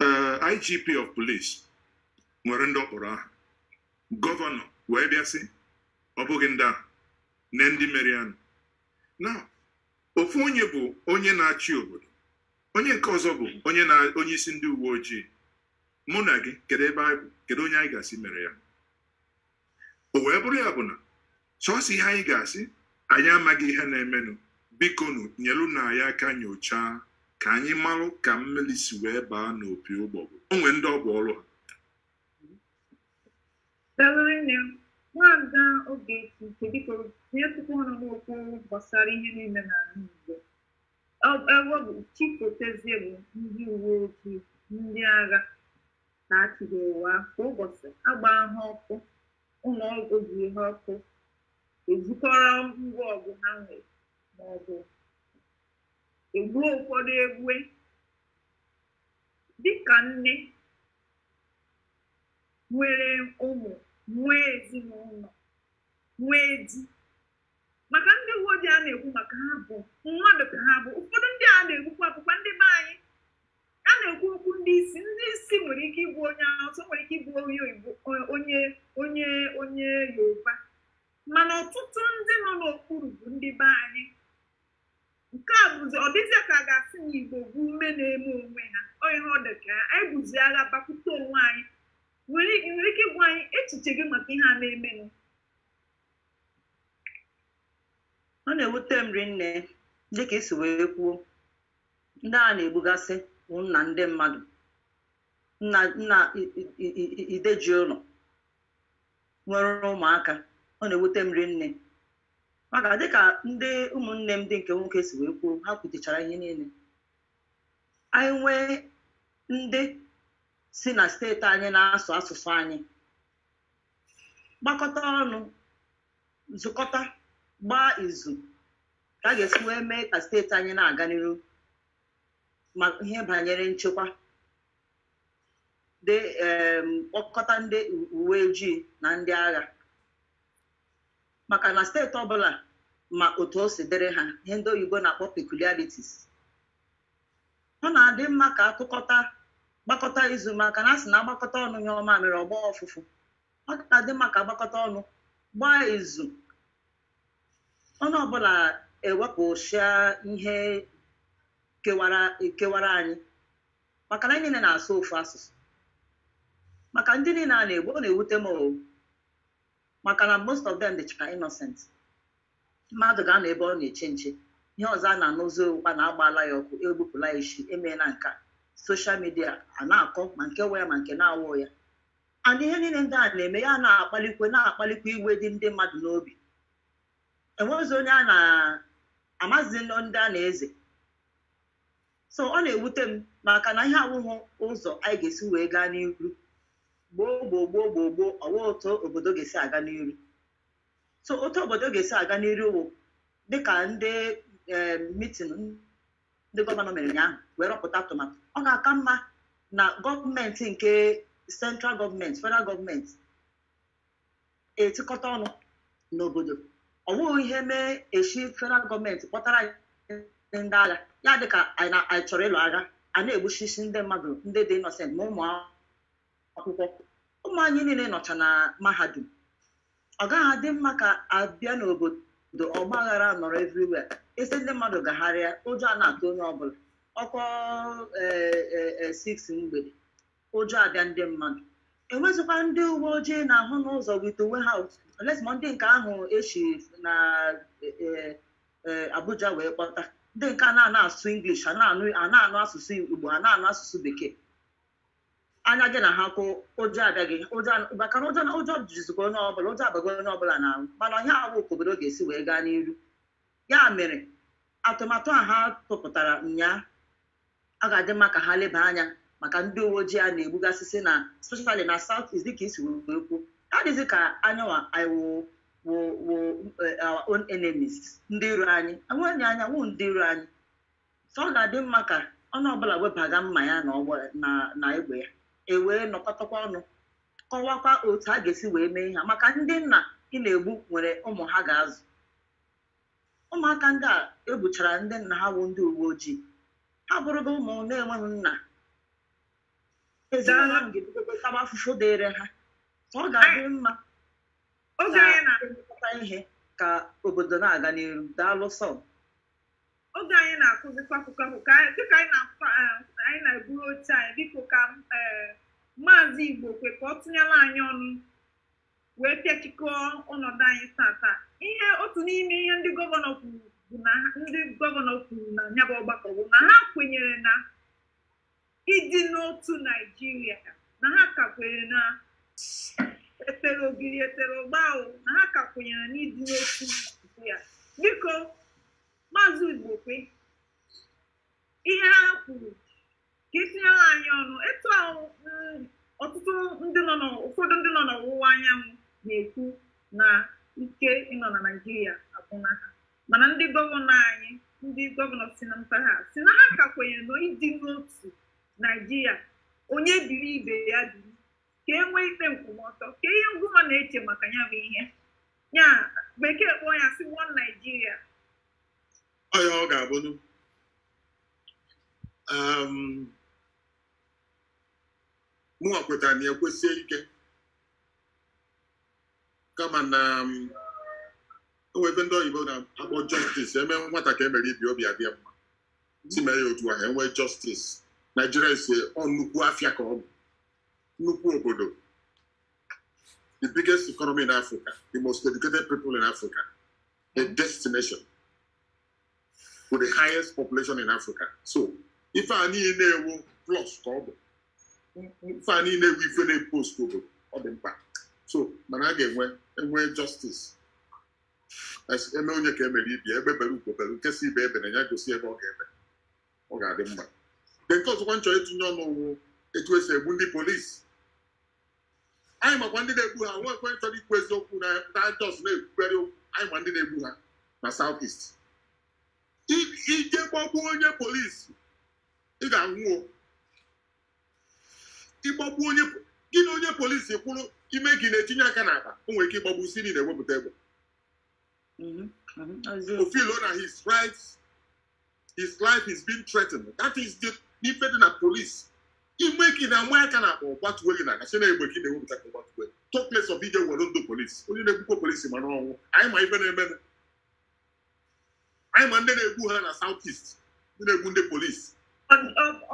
eh, IGP of police nwere ndị ọ kpọrọ aha gọvanọ wee bịa sị ọ bụghị ndị ahụ na ndị mere ya nụ na ofu onye bụ onye na-achị obodo onye nke ọzọ bụ onye na onye isi ndị uwe ojii mụ na gị kedu ebe anyị bụ kedu onye anyị ga-asị mere ya o wee bụrụ ya bụ na sọsọ ihe anyị ga-asị anyị amaghị ihe na-emenụ bikonụ nyelunụ anyị aka nyochaa ka anyị marụ ka mmiri si wee baa n'opi ụgbọgụ o nwee ndị ọ bụ ọrụ ha Dalụrụ nne m, nwaada Ogechi nke biko nyetụkwa ọnụ n'okwu gbasara ihe niile n'ala Igbo. Ọ- Ebe ọ bụ chi fotezie bụ ndị uwe ojii, ndị agha, ka a chụghị ụwa kwa ụbọchị agbaa ha ọkụ ụlọ uwe ojii ọkụ e zukọrọ ngwa ọgụ ha nwere ma ọ bụ egbuo ụfọdụ egbue dịka nne nwere ụmụ nwee ezinụlọ nwee di maka ndị uwe ojii a na-ekwu maka ha bụ mmadụ ka ha bụ ụfọdụ ndị a na-egbukwa bụkwa ndị be anyị a na-ekwu okwu ndị isi ndị isi nwere ike ịbụ onye Hausa nwere ike ịbụ onye Igbo onye onye onye Yoruba mana ọtụtụ ndị nọ n'okpuru bụ ndị be anyị nke a bụzi ọ dịzịa ka a ga-asị na Igbo bụ ume na-eme onwe ha ihe a ọ dị ka anyị buzi agha bakwute onwe anyị i nwere ike ịgwa anyị echiche gị maka ihe a na-emenụ ọ na-ewute m rinne dịka i si wee kwuo ndị a na-egbugasị bụ nna ndị mmadụ nna nna I- I- I- I- ide ji ụlọ nwere ụmụaka ọ na-ewute m rinne maka dịka ndị ụmụnne m ndị nke nwoke si wee kwuo ha kwutechara ihe niile anyị nwee ndị si na steeti anyị na-asụ asụsụ anyị gbakọta ọnụ zụkọta gbaa izu ka a ga-esi wee mee ka steeti anyị na-aga n'iru ma ihe banyere nchekwa dị em, kpọkọta ndị u- uwe ojii na ndị agha maka na steeti ọbụla ma otu o si dịrị ha ihe ndị oyibo na-akpọ peculiarities ọ na-adị mma ka akụkọta gbakọta izu maka na a sị na agbakọta ọnụ nyụọ mamịrị ọ gbọọ ụfụfụ ọ ga-adị mma ka agbakọta ọnụ gbaa izu Onye ọbụla ewepụsịa ihe kewara kewara anyị maka na anyị niile na-asụ ofu asụsụ maka ndị niile a na-egbu ọ na-ewute m o maka na most of them dịcha innocent mmadụ ga-anọ ebe ọ na-eche nche ihe ọzọ a na-anụzi wụkwa na agbaala ya ọkụ egbupụla ya isi emeela nke a social media a na-akọ ma nke wụ ya ma nke na-awụ ya and ihe niile ndị a na-eme ya na-akpalikwa na-akpalikwa iwe dị ndị mmadụ n'obi enweghịzi onye a na-amazi ndị a na-eze so ọ na-ewute m maka na ihe a awụghị ụzọ anyị ga-esi wee gaa n'iru gbuo gbuo gbuo gbuo gbuo ọ wụghị otu obodo ga-esi aga n'iru so otu obodo ga-esi aga n'iru wụ dịka ndị meeting ndị gọvanọ mere ụnyaahụ wee rọpụta atụmatụ ọ ga-aka mma na gọọmenti nke central government federal government etikọta ọnụ n'obodo ọ bụghị ihe mee e si federal gọọmenti kpọtara anyị ndị agha ya adị ka anyị na- anyị chọrọ ịlụ agha a na-egbuchisi ndị mmadụ ndị dị innocent ma ụmụ akwụkwọ ụmụ anyị niile nọcha na mahadum ọ gaghị adị mma ka abịa n'obodo ọgbaghara anọrọ everywhere a sị ndị mmadụ gagharịa ụjọ a na-atụ onye ọbụla ọ kụọ six mgbede ụjọ abịa ndị mmadụ enwezikwa ndị uwe ojii a na-ahụ n'ụzọ with uwe ha unless ma ndị nke ahụ e si na Abuja wee kpọta ndị nke a na-anụ asụsụ English a na-anụ asụsụ Igbo a na-anụ asụsụ Bekee anya gị na ha kwụ ụjọ abịa gị ụjọ maka na ụjọ na ụjọ jizikwa onye ọbụla ụjọ abago onye ọbụla n'arụ mana ihe a awụ ka obodo ga-esi wee gaa n'iru ya mere atụmatụ a ha tụpụtara ụnyaa ọ ga-adị mma ka ha leba anya maka ndị uwe ojii a na-egbugasịsị na especially na South East dịka i si wee kwuo ha dịzi ka anyịnwa wụ wụ wụ eh, our own enemies ndị iro anyị onwe anyị wụ ndị iro anyị so ọ ga-adị mma ka onye ọbụla webaga mma ya na ọbọ na na egbe ya e wee nọkọtakwa ọnụ kọwakwa otu a ga-esi wee mee ihe a. maka ndị nna ị na-egbu nwere ụmụ ha ga-azụ ụmụaka ndị a egbuchara ndị nna ha bụ ndị uwe ojii ha bụrụgo ụmụ na-enweghị nna ezinụlọ ahụ ga-ebidokwa taba afụfụ dịịrị ha so ọ ga-adị mma oge anyị na elekọta ihe ka obodo na-aga n'iru daalụ sọ oge anyị na-akụzikwa akụkọ ahụ ka anyị- dịka anyị na-akpa eh, anyị na-eburu oche anyị biko ka eh, maazị igbokwe ka ọ tụnyere anyị ọnụ wee pịachikọọ ọnọdụ anyị taata ihe otu n'ime ihe ndị gọvanọ kwuru bụ na ha- ndị gọvanọ kwuru na ya bụ ọgbakọ bụ na ha kwenyere na ịdị n'otu naijiria na ha ka kwenyere na etere ogiri etere ụgba ahụ na ha ka kwenyere n'ịdị n'otu naijiria biko maazị igbokwe ihe ha kwuru ka i tinyere anyị ọnụ etu ahụ mm, ọtụtụ ndị nọ n'ọ- ụfọdụ ndị nọ n'ọwụwa anyanwụ na-ekwu na ike ịnọ na naijiria agwụna ha mana ndị gọvanọ anyị ndị gọvanọ si na mpaghara a sị na ha ka kwenyere na ịdị n'otu naijiria onye biri ibe ya biri ka e nwee ikpe nkwụmọtọ kee ihe ngịnwa na-eche maka ya bụ ihe a bekee kpọọ ya sị one naijiria ọ ya ọ ga-abụnụ mụnwa kwetara na ya kwesie ike kama na o nwere ife ndị oyibo na-akpọ justice emee nwata ka emere ibe ya obi adị ya mma asị mee ya otu ahụ enwee justice naijiria is ọ nnukwu afịa ka ọ bụ nnukwu obodo the biggest economy in africa the most educated people in africa a destination with the highest population in Africa so ife a niile ọ wụ plus ka ọ bụ ife a niile wụ ife na-eboost obodo ọ dị mkpa so mana a ga-enwe enwe justice emee onye ka emere ibe ya egbe bere ugo bere nke sị ibe ya ebena ya gosi ebe ọ ga-ebe ọ ga-adị mma nke ọzọkwa m chọ ịtụnye ọnụ wụ etu esi egbu ndị polisi anyị makwa ndị na-egbu ha nwa ekwe chọrọ ikwu eziokwu na a just na-ekwukarị okwu anyị ma ndị na-egbu ha na south east I- i je gbagbuo onye polisi ị ga-anwụ o ịgbagbu onye gị na onye polisi kwụrụ i mee ka ị na-etinye aka n'akpa o nwere ike ịgbagbu sị na ị na-ewepụta egbe Mhm, mhm, eziokwu. ọ feel na his rights his life is being threatened that is the n'ife dị na police i mee ka ị na-agba aka n'akpa ọ gbatuo gị na ọ ga-asị na egbe ka ị na-ewepụta ka ọ gbatuo talk less of ije were ndụ polisi onye na-egbukwa polisi ma n'ọnwụ anyị ma ife na-eme anyị ma ndị na-egbu ha na south east ndị na-egbu ndị polisi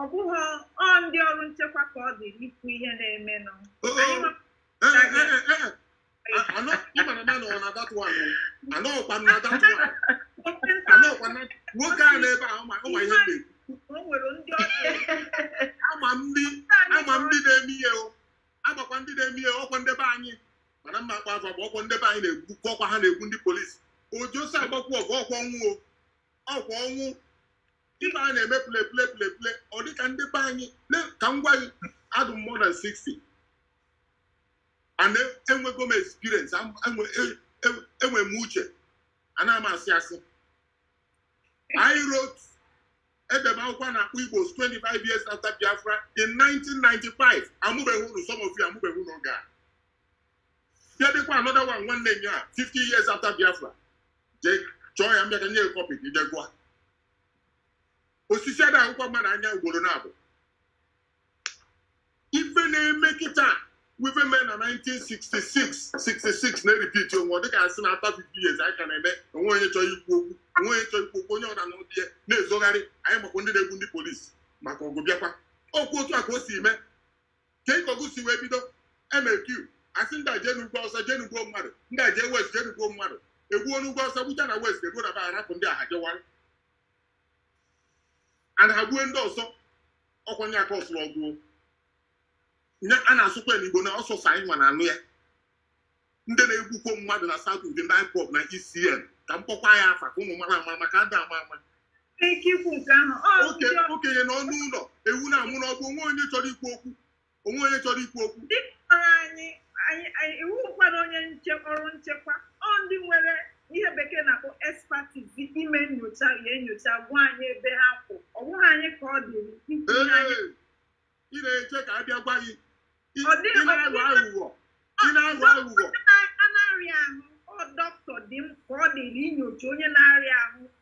ọ bụghị ọ ndị ọrụ nchekwa ka ọ dị ikwu ihe na-emenụ nwoke a nọ ebe a ma ihe na-ekwu a ma ndị na-eme ihe a makwa ndị na-eme ihe ọkwa nde be anyị mana m ma akpọ afa bụ ọkwa nde be anyị na-egbu ọkwa ha na-egbu ndị polisi ojosi agbakwu ọgụ ọkwa ọ wụ ọkwa ọ wụ ife a na-eme play play play play ọ dịka ndị be anyị ka m gwa gị adụ m more than 60 and enwego m experience am- enwe e- e- enwe m uche ana m asị asị I wrote ede m akwụkwọ a na-akpọ Igbos 25 years after Biafra in 1995 amụbeghị unu some of you amụbeghị unu oge a bịa dekwa another one nwanne m ya 50 years after Biafra jee chọọ ya ma bịa ka m nye kọpị gị jee gụọ osisi ada akpọkwa mmadụ n'anya ugboro naabọ ife na-eme kịta wụ ife mee na 1966 66 na-erepeat onwe ọ dịka asị na after 50 years anyị ka na-eme o nwe onye chọrọ ikwu okwu o nwe onye chọrọ ikwu okwu onye ọbụla na ụdị ya na-ezogharị anyị makwa ndị na-egbu ndị polisi maka ọgụ bịakwa ọkwa otu a ka o si mee ka ịka ọgụ si wee bido mq asị ndị a jee n'ugwu Awụsa jee na-egbu mmadụ ndị a jee west jee na-egbu mmadụ egbuo n'ugwu Awụsa gbucha na west eruo na be ha arapụ ndị ahụ jewara and ha gbue ndị ọzọ ọkwa ihe a kọsụrụ ọgụ ihe a na-asụkwa n'igbo na ọ sọsọ anyị nwa na-anụ ya ndị na-egbukwa mmadụ na South East ndị IPOB na ESN ka m kpọkwa ya afa ka unu mara ama maka ada ama ama Ike ikwu nke ahụ ọ Oke- okenye ana anọ n'ụlọ ewu na-amụ n'ọgbụ o nwe onye chọrọ ikwu okwu o nwe onye chọrọ ikwu okwu ndị kpọrọ anyị anyị anyị- ị wụkwara onye nche ọrụ nchekwa ọ ndị nwere ihe bekee na-akpọ expertise ime nyocha ya enyocha gwa anyị ebe ha kwụ ọ bụghị anyị ka ọ dịrị ikwu ihe anyị Ee, ị na-eche ka a bịa gwa gị Ị Ọ dịghị- ị na-aghọ aghụghọ ị na-aghọ aghụghọ a na-arịa ahụ ọ dọkịta dị m ka ọ dịrị inyocha onye na-arịa ahụ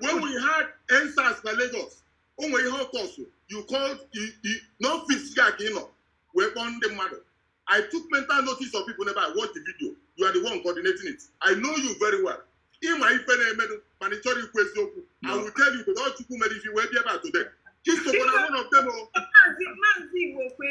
when we had EndSARS na Lagos o nwere ihe ọ kọsụ you called n'ọfis gị a ka ị nọ wee kpọọ ndị mmadụ I took mental notice of people n'ebe I watch the video you are the one coordinating it I know you very well ị ma ife na-emenụ mana ị chọrọ ikwu eziokwu I will tell you because Chukwu mere i ji wee bịa ebe a today i sokwa na one of them o oh. maazị Igbokwe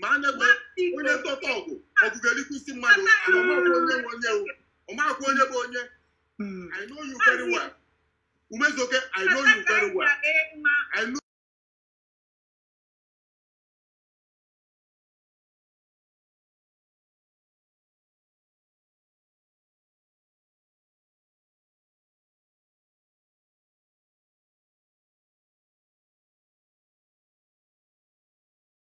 ma a na-egbu onye ntọta ọgụ ọgụ ga-erikwa isi mmadụ ọ makwa onye nwe onye o ọ makwa onye bụ onye Mm. I know you very well Umezoke I know you very well I know